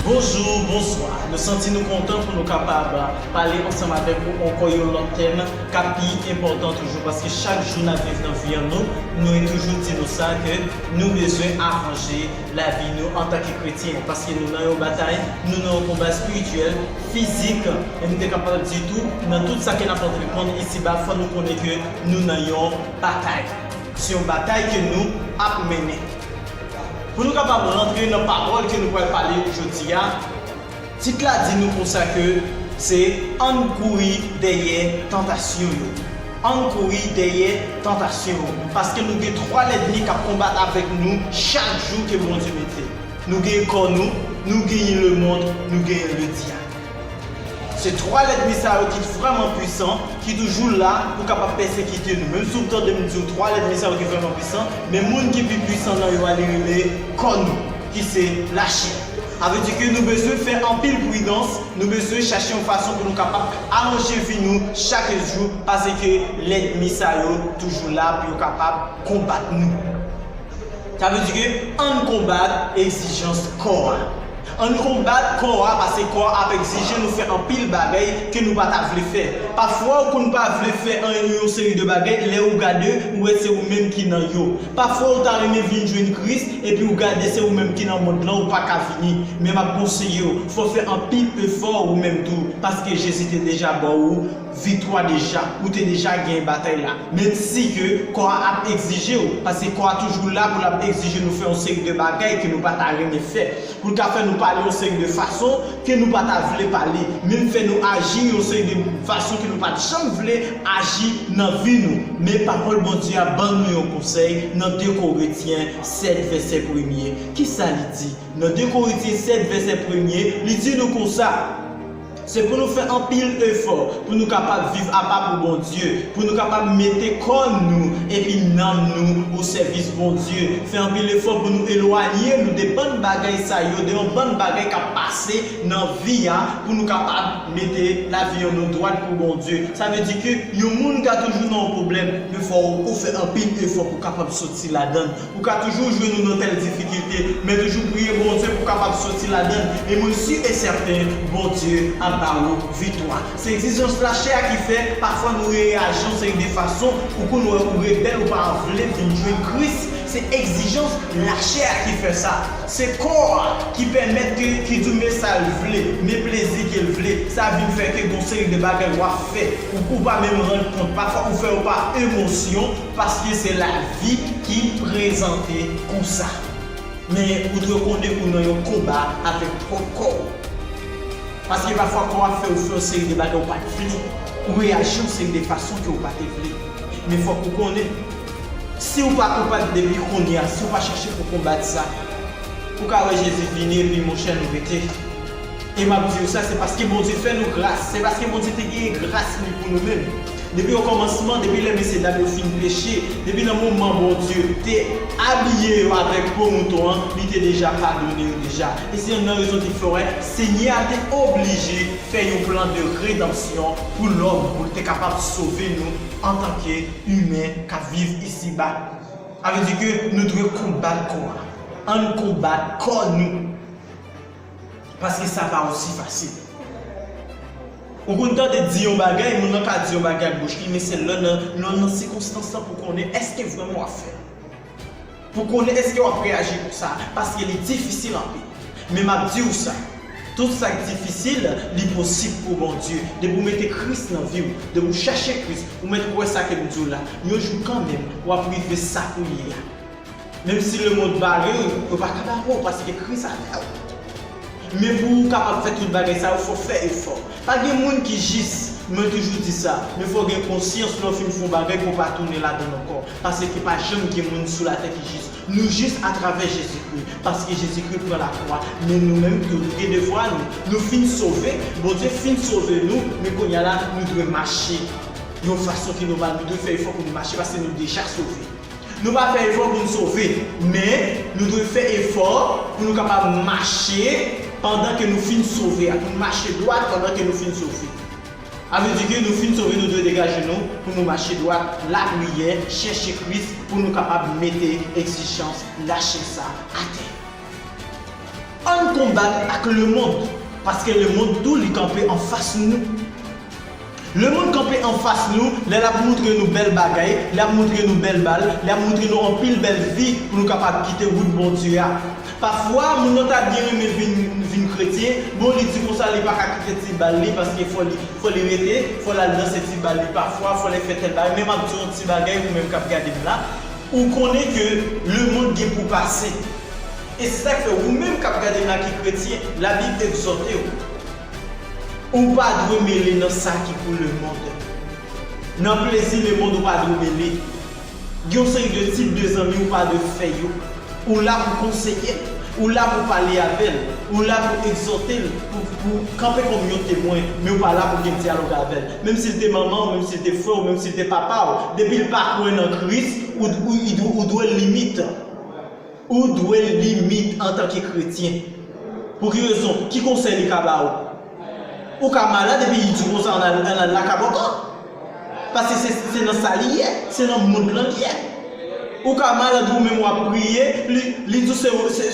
Bonjou, bonswa. Nou santi nou kontan pou nou kapab pale ansanm avèk ou ankò yon lòt tèm k ap pi enpòtan toujou paske chak jou n ap viv nan vi an nou mwen toujou di nou sa ke nou bezwen aranje lavi nou antanke kretyen paske nou nan yon batay, nou nan yon konba espirityèl, fizik e m te kapab di tou nan tout sa ke n ap antreprand isiba fò nou konnen ke nou nan yon batay. Se yon batay ke nou ap mennen. Pou nou kapab rantre nan pawòl ke nou pral pale jodi a, tit la di nou konsa ke se Ann kouri dèyè tantasyon yo. Ann kouri dèyè tantasyon yo. Paske nou gen 3 lèdmi kap konbat avèk nou chak jou ke Bondye mete. Nou gen kò nou, nou genyen lemond, nou genyen le dyab. Se 3 lènmi sa yo ki vrèman pwisan, ki toujou la pou kapab pèsekite nou. Menm si w tande m di w 3 lènmi sa yo ki vrèman pwisan, men moun ki pi pwisan nan yo a li rele kò nou, ki se lachè. Sa vle di ke nou bezwen fè anpil pridans, nou bezwen chache yon fason pou nou kapab aranje vi nou chak jou, paseke lènmi sa yo toujou la pou yo kapab konbat nou. Sa vle di ke ann konbat egzijans kò a. Ann konbat kò a pase kò a ap egzije nou fè anpil bagay ke nou pa ta vle fè. Pafwa ou konn pa vle fè an yon seri de bagay lè ou gade ou wè se ou menm ki nan yo. Pafwa ou ta renmen vin jwenn Kris epi ou gade se ou menm ki nan mond lan ou pa ka vini. Men m ap konseye ou fè w fè anpil efò ou menm tou paske Jezi te deja ba ou viktwa deja, ou te deja genyen batay la, menm si ke kò a ap egzije w, paske kò a toujou la pou l ap egzije nou fè yon seri de bagay ke nou pa ta renmen fè, pou l ka fè nou pale yon seri de fason ke nou pa ta vle pale, menm fè nou aji yon seri de fason ke nou pa t janm vle aji nan vi nou. Men Pawòl Bondye a ban nou yon konsèy nan 2 Korentyen 7 vèsè premye. Kisa li di? Nan 2 Korentyen 7 vèsè premye, li di nou konsa, Se pou nou fè anpil efò pou nou kapab viv apa pou Bondye, pou nou kapab mete kò nou epi nanm nou o sèvis Bondye, fè anpil efò pou nou elwanye nou de bann bagay sa yo, de yon bann bagay k ap pase nan vi a, pou nou kapab mete lavi an nou dwat pou Bondye. Sa vle di ke yon moun ka toujou nan yon pwoblèm, men fò ou fè anpil efò pou w kapab soti ladan l. Ou ka toujou jwenn ou nan tèl difikilte, men toujou priye Bondye pou kapab soti ladann e mwen si e sèten Bondye ap ba ou viktwa. Se egzijans lachè a ki fè pafwa nou reyaji yon seri de fason ou konn wè ou rebèl ou pa vle vin jwenn Kris se egzijans lachè a ki fè sa. Se kò a ki pèmèt ke ki di w men sal vle, men plezi ke l vle, sa vin fè ke gon seri de bagay wap fè ou pa menm rann kont pafwa ou fè yo pa emosyon, Paske se lavi ki prezante konsa. Men ou dwe konnen ou nan yon konba avèk pwòp kò ou. Paske pafwa kò a fè ou fè yon seri de bagay ou pa t vle, ou reyaji yon seri de fason ke ou pa te vle. Men fòk ou konnen, si ou pa koupab depi kounye a, si ou pa chache pou konbat sa, ou ka wè Jezi vini epi monchè nou rete. E m ap di ou sa, se paske Bondye fè nou gras, se paske Bondye te genyen gras li pou nou menm. Depi okòmansman, depi lè mesyedam yo fin peche, depi nan moman Bondye te abiye yo avèk po mouton an, li te deja padone yo deja. E se yonn nan rezon ki fè w wè Senyè a te oblije fè yon plan de redanmsyon pou lòm, pou l te kapab sove nou antanke imen k ap viv isiba. Sa vle di ke nou dwe konbat kò a. Ann konbat kò nou! Paske sa pa osi fasil. Ou konn tande di yon bagay, moun nan ka di yon bagay ak bouch li, men se lè nan lè w nan sikonstans lan pou w konnen èske vrèman w ap fè l. Pou w konnen èske w ap reyaji konsa, paske li difisil anpil. Men m ap di w sa, tout sa k difisil, li posib pou Bondye. Depi w mete Kris nan vi w, depi w chache Kris, ou mèt kwè sa ke m di w la, yon jou kanmenm, w ap rive sa kou ye a. Menm si lemond vale w, yo pa ka bare w paske Kris avè w. Men pou ou kapab fè tout bagay sa yo, fò w fè efò. Pa gen moun ki jis, mwen toujou di sa, men fò w gen konsyans lè w fin fè yon bagay pou w pa tounen ladann ankò, paske pa janm gen moun sou latè ki jis. Nou jis atravè Jezikri, paske Jezikri pran lakwa, men nou menm tou, nou gen devwa nou. Nou fin sove, Bondye fin sove nou, men kounya la nou dwe mache yon fason ki nòmal, nou dwe fè efò pou nou mache paske nou deja sove. Nou pa fè efò pou n sove, men, nou dwe fè efò pou nou kapab mache pandan ke nou fin sove a, pou nou mache dwat pandan ke nou fin sove. A vle di ke nou fin sove nou dwe degaje nou pou nou mache dwat, lapriyè, chèche Kris pou nou kapab mete egzijans lachè sa atè. Ann konbat ak lemond, paske lemond tou li kanpe anfas nou. Lemonn kanpe anfas nou lè l ap moutre nou bèl bagay, li ap moutre nou bèl bal, li ap moutre nou anpil bèl fi pou nou kapab kite wout Bondye a. Pafwa, moun nan ta byen renmen vin vin kretyen, bon li di konsa li pa ka kite ti bal li paske fò li fò li rete, fò l al danse ti bal li pafwa, fò l al fè tèl bagay men m ap di w yon ti bagay ou menm k ap gade m la, ou konnen ke lemonn gen pou pase. E se sa k fè ou menm k ap gade m la ki kretyen, Labib egzòte w. Ou pa dwe mele nan sa ki pou lemond. Nan plezi lemond ou pa dwe mele. Gen yon seri de tip de zanmi ou pa dwe fè yo. Ou la pou konseye l, ou la pou pale avè l, ou la pou egzòte l, pou kanpe kòm yon temwen, men ou pa la pou gen dyalòg avè l. Menm si l te manman ou, menm si l te frè ou, menm si l te papa ou, depi l pa kwè nan Kris, ou dwe l limit. Ou dwe limit antanke kretyen. Pou ki rezon? Ki konsèy li ka ba ou? Ou ka malad epi li di w konsa an al lakabòkò. Paske se nan sa li ye, se nan mond lan li ye. Ou ka malad ou menm w ap priye, li di w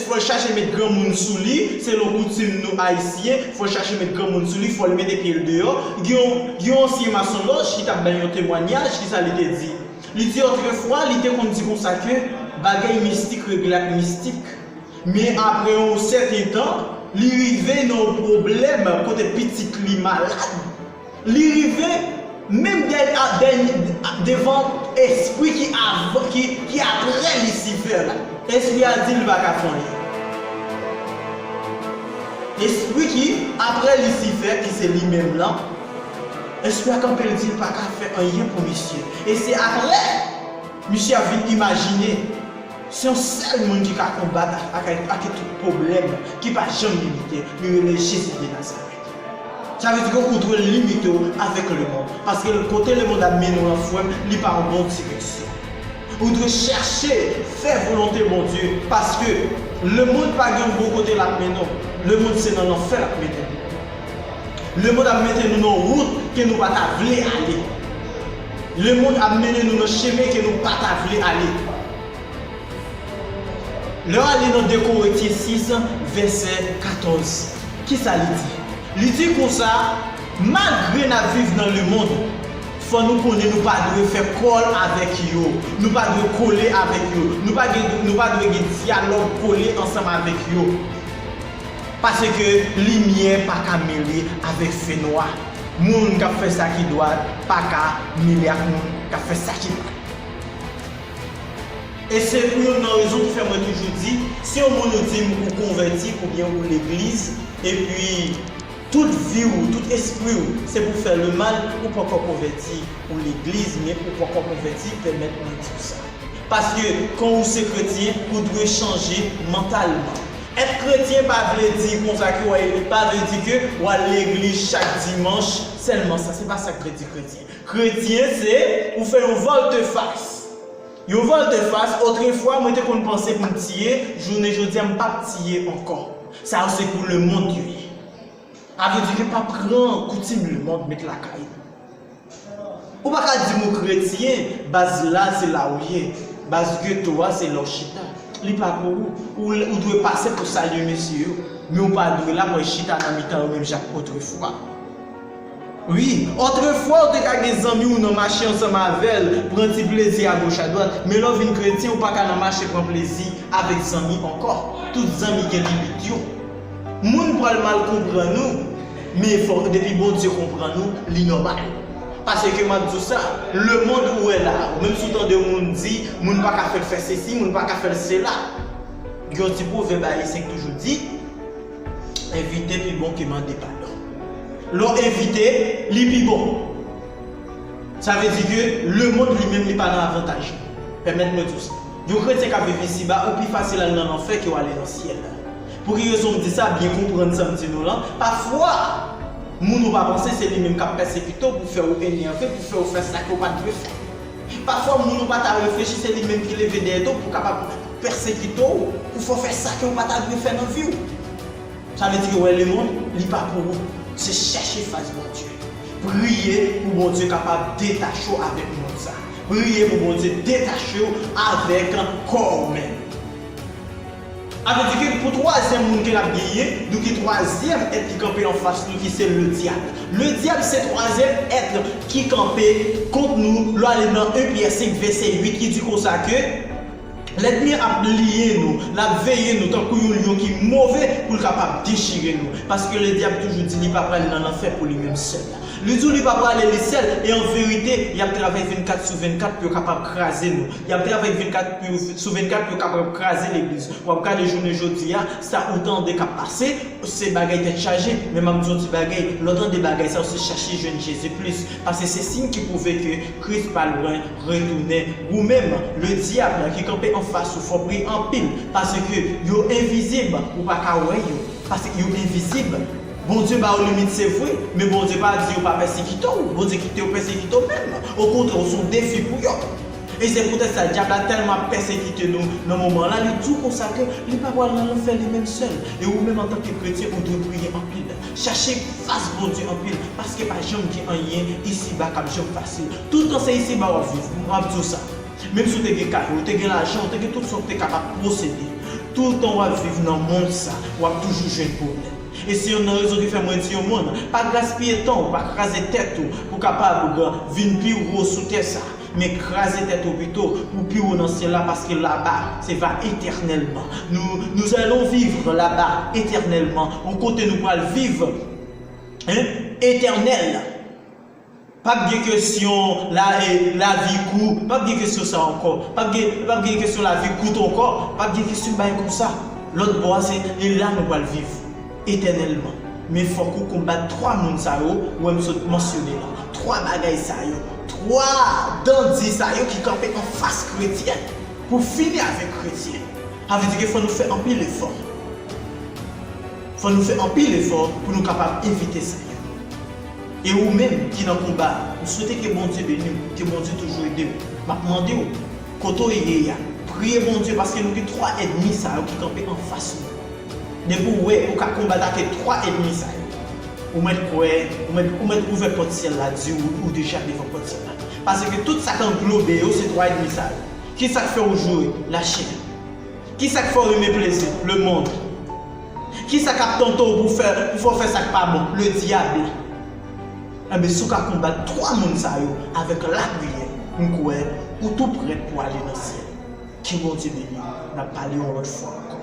fò l chache met granmoun sou li, selon koutim nou ayisyen, fò l chache met granmoun sou li, fò l mete pye l deyò. Gen yon ansyen masonlòj ki t ap bay yon temwanyaj, kisa li te di? Li di otrefwa li te konn di konsa ke bagay mistik regle ak mistik. Men apre yon sèten tan, li rive nan yon pwoblèm kote pitit li malad, li rive menm devan espri ki avan, ki apre Lisifè la. Espri a di l pa ka fè anyen. Espri ki apre Lisifè, ki se li menm lan, Espè ak anpil dil paka fè anyen pou misye e se aprè misye ap vin imajine se yon sèl moun ki ka konbat ak atake tout pwoblèm ki pa janm limite li rele Jezi de Nazarèt sa vle di ke ou dwe limite w avèk lemond paske kote lemond ap mennen w lan frèm li pa yon bon direksyon ou dwe chèche fè volonte Bondye paske lemond pa gen yon bon kote lap mennen w lemond se nan lanfè lap mennen w. Lemond ap mete nou nan wout ke nou pa ta vle ale. Lemond ap mennen nou nan chemen ke nou pa ta vle ale. Lè w ale nan 2 Korentyen 6, vèsè 14, ki sa li di? Li di konsa, Malgre n ap viv nan lemond, fò nou konnen nou pa dwe fè kòl avèk yo, nou pa dwe kole avèk yo, nou pa dwe gen dyalòg kole ansanm avèk yo. Paske limyè pa ka mele avèk fenwa, moun k ap fè sa ki dwat pa ka mele ak moun k ap fè sa ki mal. E se pou youn nan rezon ki fè mwen toujou di, si yon moun ou di m ou konvèti oubyen ou legliz, epi tout vi ou, tout espri ou se pou fè lemal, ou poko konvèti, ou legliz men ou poko konvèti, pèmèt mwen di w sa. Paske kan ou se kretyen, ou dwe chanje mantalman. Èt kretyen pa vle di konsa ke wè eli pa vle di ke wal legliz chak dimanch sèlman sa se pa sak vle di kretyen kretyen se ou fè yon volte face yon volte face otrefwa mwen te konn panse pou m tiye jounen jodia m pap tiye ankò sa yo se pou lemond yo ye a vle di ke pa pran koutim lemond met lakay ou. Ou pa ka di m ou kretyen, baz la se la ou ye. Baz geto a se la w chita. Li pa pou ou. Ou dwe pase pou salye mesye yo. Men ou pa dwe la pou al chita nan mitan yo menm jan ak otrefwa. Wi, otrefwa ou te ka gen zanmi ou nan mache ansanm avè l, pran ti plezi agoch adwat. Men lè w vin kretyen, ou pa ka nan mache pran plezi avèk zanmi ankò. Tout zanmi gen limit yo. Moun pwal mal konprann ou men fò depi Bondye konprann ou li nòmal paske map di w sa lemond ou wè la ou menm si w tande yon moun di moun paka fè l fè sesi moun paka fè l sela gen yon ti pwovèb ayisyen ki toujou di envite pi bon ke mande padon lè w envite li pi bon sa vle di ke lemond li menm li pa nan avantaj li pèmèt mwen di w sa yon kretyen kap viv isi ba ou pi fasil al nan lanfè ke w ale nan syèl. Pou ki rezon m di sa, byen konprann sa m di nou lan, pafwa, moun ou pa panse se li menm k ap pèsekite w pou fè ou enève, pou fè ou fè sa ke w pa t dwe fè. Pafwa, moun ou pa ta reflechi se li menm ki leve dèyè do w pou kapab pèsekite w, pou fè w fè sa ke w pa ta dwe fè nan vi w. Sa vle di ke wè lemonn, li pa pou ou. Se chèche fas Bondye. Priye pou Bondye kapab detache w avèk mond sa. Priye pou Bondye detache w avèk kò ou menm. A vle di ke pou twazyèm moun ke l'ap genyen, nou gen twazyèm èt ki kanpe anfas nou ki se le dyab. Le dyab se twazyèm èt ki kanpe kont nou, lè w ale nan 1 Pyè 5 vèsè 8 ki di konsa ke, Lènmi an ap bliye nou, l'ap veye nou tankou yon lyon ki move pou l' kapab dechire nou. Paske le dyab toujou di li pa pral nan lanfè pou li menm sèl la. Li di w li pa prale li sèl e an verite y'ap travay 24 sou 24 pou yo kapab kraze nou. Yap travay 24 pou yo sou 24 yo kapab ap kraze legliz. Wap gade jounen jodia sa ou tande kap pase se bagay tèt chaje men map diw yon ti bagay lè w tande bagay sa yo se chache jwenn Jezi plis pase se siy ki pwouve ke Kris pa lwen retounen. Wou menm le dyab ki kanpe anfas ou fò priye anpil pase ke yo envizib ou pa ka wè yo pase yo envizib. Bondye ba ou limit se vre men Bondye pa di yo pa pèsekite w Bondye kite yo pèsekite w menm okontrè ou se yon defi pou yo. E se poutèt sa, Dyab la tèlman ap pèsekite nou nan moman an la, li di w konsa ke li pa pral nan lanfè li menm sèl. E ou menm antanke kretyen, ou dwe priye anpil, chache fas Bondye anpil, paske pa janm gen anyen isiba k ap janm fasil. Toutan se isiba w ap viv, m ap di w sa. Menm si w te gen kay, ou te gen lajan, ou te gen tout sa w te kapab posede, toutan w ap viv nan mond sa, w ap toujou jwenn pwoblèm. E se yonn nan rezon ki fè mwen di yon moun, pa gaspiye tan w, pa kraze tèt ou pou w kapab vin pi wo sou tè sa. Men kraze tèt ou pito pou pi wo nan syèl la paske laba se va etènèlman. Nou nous allons vivre là-bas éternellement yon kote nou pral viv etènèl. Pap gen kesyon lavi kou, pap gen kesyon sa ankò. Pap gen kesyon lavi kout ankò, pap gen kesyon bagay konsa. Lòt bò a se e la nou pral viv. Etènèlman. Men fòk ou konbat twa moun sa yo wè m sot mansyone la, twa bagay sa yo, twa dan di sa yo ki kanpe anfas kretyen pou fini avèk kretyen. Sa vle di ke fò nou fè anpil efò. Fò nou fè anpil efò pou nou kapab evite sa yo. E ou menm ki nan konba a, m swete ke Bondye beni w, ke Bondye toujou ede w. M ap mande w, kote w ye a, priye Bondye paske nou gen twa èdmi sa yo ki kanpe anfas nou. Depi ou wè ou ka konbat ake 3 edmi sa yo, ou mèt kwè, ou mèt ou mèt ouvè pòt syèl la di ou ou deja devan pòt syèl la. Paske tout sa k anglobe yo se 3 edmi sa yo. Kisa k fè ou joure? Lachin. Kisa k fè ou renmen plezi? Lemond. Kisa k ap tante ou pou fè pou fè ou fè sa k pa bon? Le Diable. Enben si ou ka konbat 3 moun sa yo avèk lapriyè, m kwè ou tou prèt pou ale nan syèl. Ke Bondye beni nou. Nap pale yon lot fwa anko.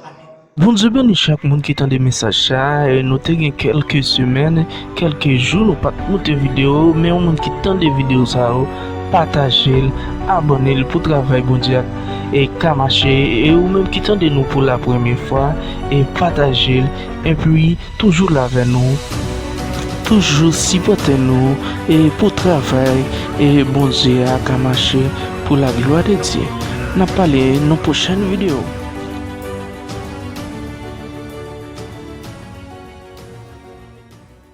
Amen. Bondye beni chak moun ki tande mesaj sa, nou te gen kelke semèn, kelke jou nou pat pote video, men yon moun ki tande video sa yo patajel, abònel pou travay Bondye a ka mache e ou menm ki tande nou pou la premye fwa patajel epi Toujou la avè nou toujou sipòte nou e pou travay e Bondye a ka mache pou la glwa de Dye nap pale nou pwochèn video.